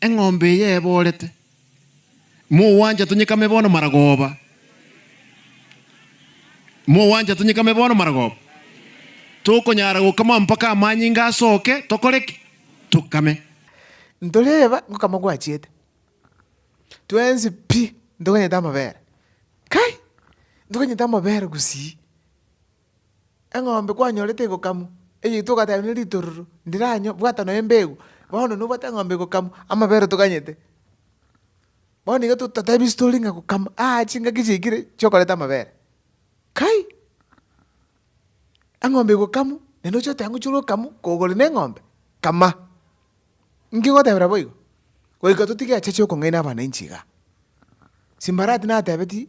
Eng'ombe eye eborete. Mogwancha tonyekame bono maragoba. Mogwancha tonyekame bono maragoba. Tokonyara gokama mpaka amanyinga asoke, tokore ki? Tokame. Ntoreba gokama gwachiete. Twensi pi ntoganyete amabere. Kai! Ntoganyete amabere gusii. eng'ombe kwanyorete egokamwa, eye togateba ne ritororo, ndiranywa, bwata noyo embegu, bono nobwate eng'ombe egokamwa, amabere otoganyete. Bono iga totatebi story ng'a gokama, aa chingaki chiaikire chiokoreta amabere, kai! Eng'ombe egokamwa, naende oche oteba ngochire okamwa, kogora na eng'ombe, kama. Inki ngotebera boigo? Goika totige acheche okong'aina abananchi igaa. Simbarati natebetie.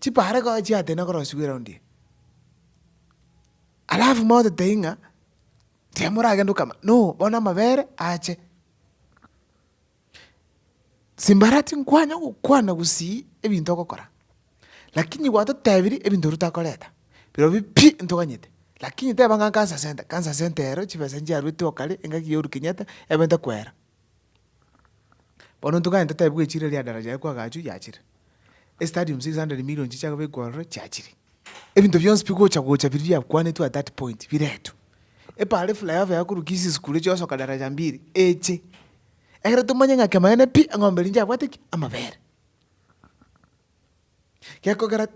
Chipaare koa chiatena korosigwa eraundi eye. Alafu moteteyi ng'a timoragende okama no bono amabere ache. Simbara tinkwanya gokwana gosii ebinto ogokora, lakini gwatotebirie ebinto rutakoreta, birobio pi ntoganyete, lakini teba ng'a nkansa sente, kansa sente ero chibesa chiaruete okare engaki yarukenyete ebe ntekwera. Bono ntokanye totebe bwe chire ria daraja ekwa agachwe yachire, estadium six hundred million chichia kobekwa ororo chiachire, ebinto bionsi bigocha gocha biria biakwanetwe at that point biretwe. Epaara eflyover yakorukia ase esukuru echi osoka daraja mbili eche, ekero tomanye ng'a kemanene pi eng'ombe ere nchiabwate ki? Amabere. Gekogera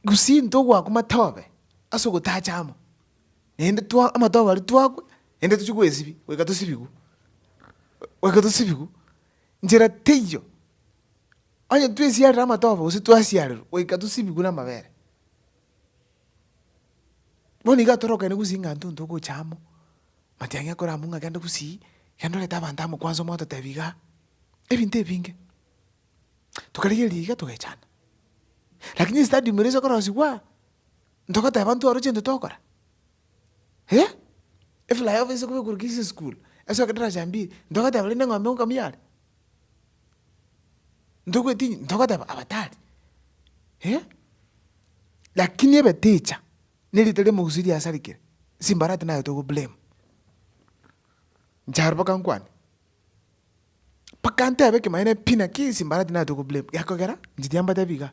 Gusii ntogwakwa matobe ase ogotacha amo. Naende twa amato abaria twakwe, naende tochie gwesibia, goika tosibigwe, goika tosibigwe. Nchera teiyo, onye twesiarire amatoba gose twasiarerwa, goika tosibigwe na amabere. Bono iga torokane gosii ng'a intwe ntogocha amo, matiang'i akore amo ng'a genda gosii, genda orete abanto amo kwansa omwate otebi igaa, ebinto ebinge. Tokarigereria iga togechana, lakini estadium eria ase okorosigwa. Ntogoteba intwe oroche intwe togokora? Eh? Eflyover ase koba ekorokire ase esukuru, esoke darasa ya mbili, ntogoteba rende eng'ombe ngokamia are? Ntogoetinyia, ntogoteba aba tari? Eh? Lakini ebe teacher, na erieta ria omogusii riasarigire, simbarati naye togoblame. Inche aria mpaka nkwane, Mpaka ntebe ekemanyereria pi naki ase mbara tinareti koblame, gekogera inche tiambatebi igaa,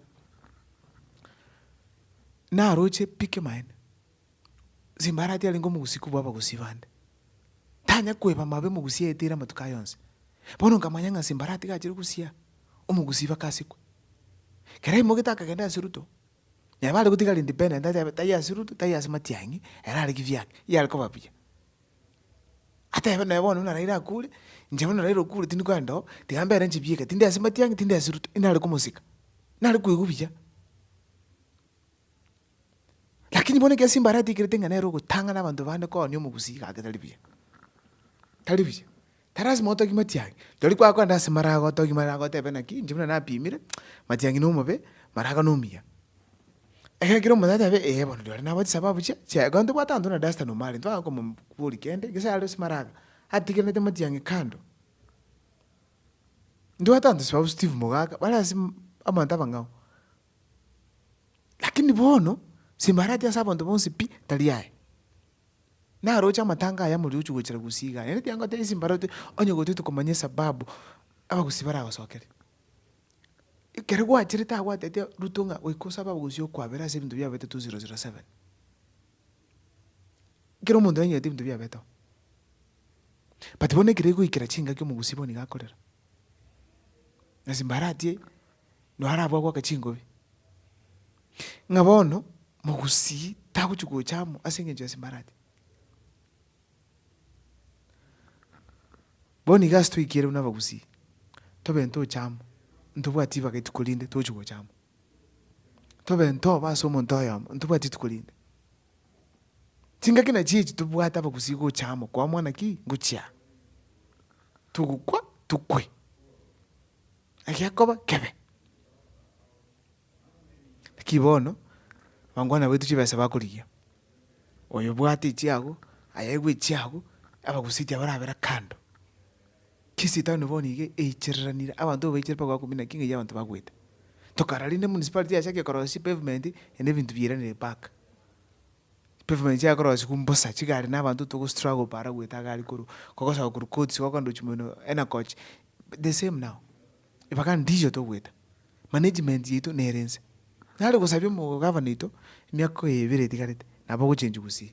naroche pi kemanyereria, ase mbara tiarenge omogusi kobua abagusi bande, tanya koeba mabe omogusi aeteire amatuko aye onsi. Bono nkamanya ng'a ase mbara tigachire gosia, omogusi baka asikwe. Ekero aimoete akagenda ase ruto, neba aregotigara independent atebe taiyo ase ruto, taiyo ase matiang'i, erare kibyake, yare koba buya. Atebe naye bono buna raira akure, inche buna raira okure tindi koenda oo, tiga ambere nchibieke, tindi ase matiang'i, tindi ase ruto, inare komosika, nare koigwa buya. Lakini bono ekiagera simba aratigereti ng'a nere ogotang'ana abanto bande koonia omogusi iga ake tari buya, tari buya. Tari lasima otogie matiang'i, rirorio kwagokora naende ase marago otogie marago otebe naki inche buna napimire, matiang'i na omobe, marago na omuya. Ekero kere omonto atebe ee bono rirorio nabwate chisababu chia chia ekero ntobwate abanto buna Duster na Omari ntibagaka komom kwori kende gese are ase maraga, atigerenete matiang'i kando. Ntibwate abanto sababu Steve Mogaka bare ase mm abanto abang'ao. Lakini bono, simbarati ase abanto bonsi pi tari aye. Naroche amatanga aya moriochio gochira gusii igaa, naende tiga ngotebi ase mbaroto, onye goetwe tokomanya esababu abagusii baragosokere. Ekero gwacherete agwo gwatebete Ruto ng'a goika osabe abagusii okwabera ase ebinto biabete two zero zero seven. Kera omonto nanyerete ebinto biabeteo. But bono ekero egoikera chingaki omogusii bono nigo akorera. Ase mbaratie. no arabwo agoaka chingobi, ng'a bono mogusii tagochi gocha amo ase engencho ya Simbarati. Bono iga ase toikire buna abagusii, tobe ntoche amo, ntobwati ribaga rituko rinde togochi gocha amo. Tobe ntoba ase omonto oyomo, ntobwati rituko rinde. Chingaki nachio echi tobwate abagusii gocha amo koamoana ki? Ngochia. Togokwa, tokwe. egekoba kebe. Naki bono, abangwana baito chibesa bakorigia, oyo obwate echiago, aye aigwe echiago, abagusii chia barabera kando. Chisitani bono iga eichereranire, abanto baichire mpaka bakomia naki ng'ai abanto bagwete. Tokarora rende municipality yase ake ekorosia chipavement, ende ebinto bieranire park. Chipavement chiaye korosiwa mbosa, chigari na abanto togo struggle para goeta agari korwa, kogosoka korwa courts gokonda gochia mono enakoch. The same now, ebagani ndicho togoeta, management yaito nere nse. Nare gosabia omogavana oito emiaka ebere etigarete, nabo ogochenchwa Gusii,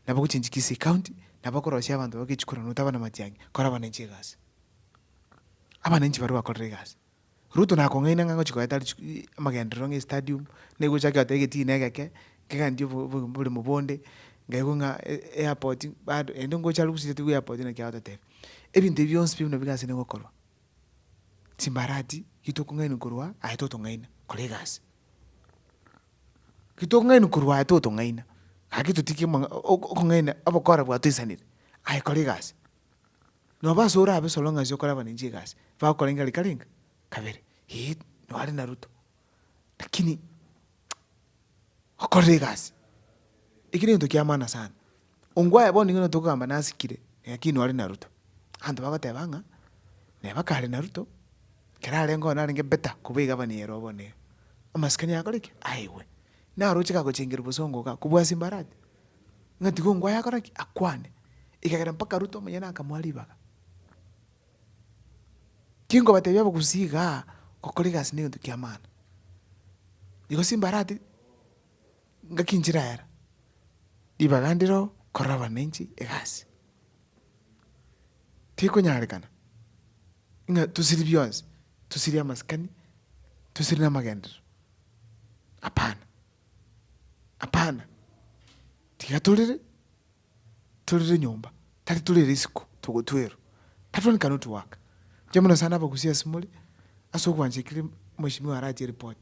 nabo ogochenchwa Kisii county, nabo okorosia abanto babo echikura notabana na matiang'i, kora abananchi egasi. Abananchi baria bakorire egasi. Ruto nakong'aina ng'a ngochia goeta richi amagenderero ng'a estadium, nigo ochake goteba egetine egeke, Nkegandia obo- obo- oboremo bonde, nkaigwa ng'a e- eairport bado ende ngocha aria gusiritigwe eairport naki agototebia, ebinto ebi bionsi pi buna bigase nigo okorwa, chimbarati ki tokong'aini korwa aa, aye totong'aina, kora egasi. Ki tokong'aini korwa aa totong'aina, gaki totigie omong'a ok- okong'aina obokora bwa toisanire, aye kora egasi, noba ase orabe soro ng'a ase okora abananchi egasi, bagokora inga rika ringa, kabere, eeh nware na ruto. Lakini okorere egasi, eki negento kiamana sana, ongwe aye bono nigo nere tokogamba nasikire, lakini nore na ruto, abanto bagoteba ng'a neba kare na ruto, ekero arenge oo narenge better kobua egabana eye ero bono ere. Amasikani akore ki? Aigwe. Naroche kagochengire bosongo igaa, kobua simbarati, ng'a tiga ongwae akore ki? Akwane, ekagera mpaka ruto omonyene akamoa ribaga. Tinkobatebia abagusii igaa, gokora egasi negento kiamana. Igo simbarati ngaki nchiraera, ribaga ndiro korora abananchi egasi. Tikonyarekana, ng'a tosiri bionsi, tosiri amasikani, tosiri na amagenderero, hapana, hapana, tiga torere. Torere nyomba, tari torere isiko, togotwerwa. That one cannot work. Inche buna sana abagusia ase more, ase ogwancha ekere mweshimiwa arache ereport,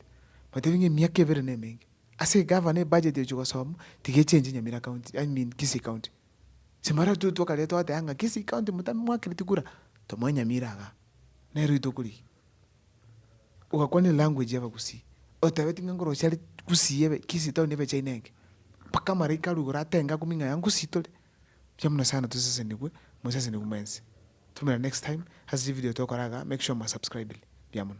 batebi ng'a emiaka ebere nemenge. Ase egavana ebudget ochi gosoma, tiga echange Nyamira county, I mean Kisii county. Simara tu twakare twateba ng'a Kisii county motame mwakereti kura, tomoe Nyamira igaa. Nero etogorigia. ogakwana elanguage y'abagusii, otabeti ng'a nkorosia are gusii ebe kisi etaoni ebe china enge, mpaka amaraika arugore atenge akumia ng'a aya ngusii tore, mbuya mono sana tosesenigwe, mosesenigwe mwensi. Tumira next time ase chivideo togokora igaa, make sure mwa subscribire. Mbuya mono.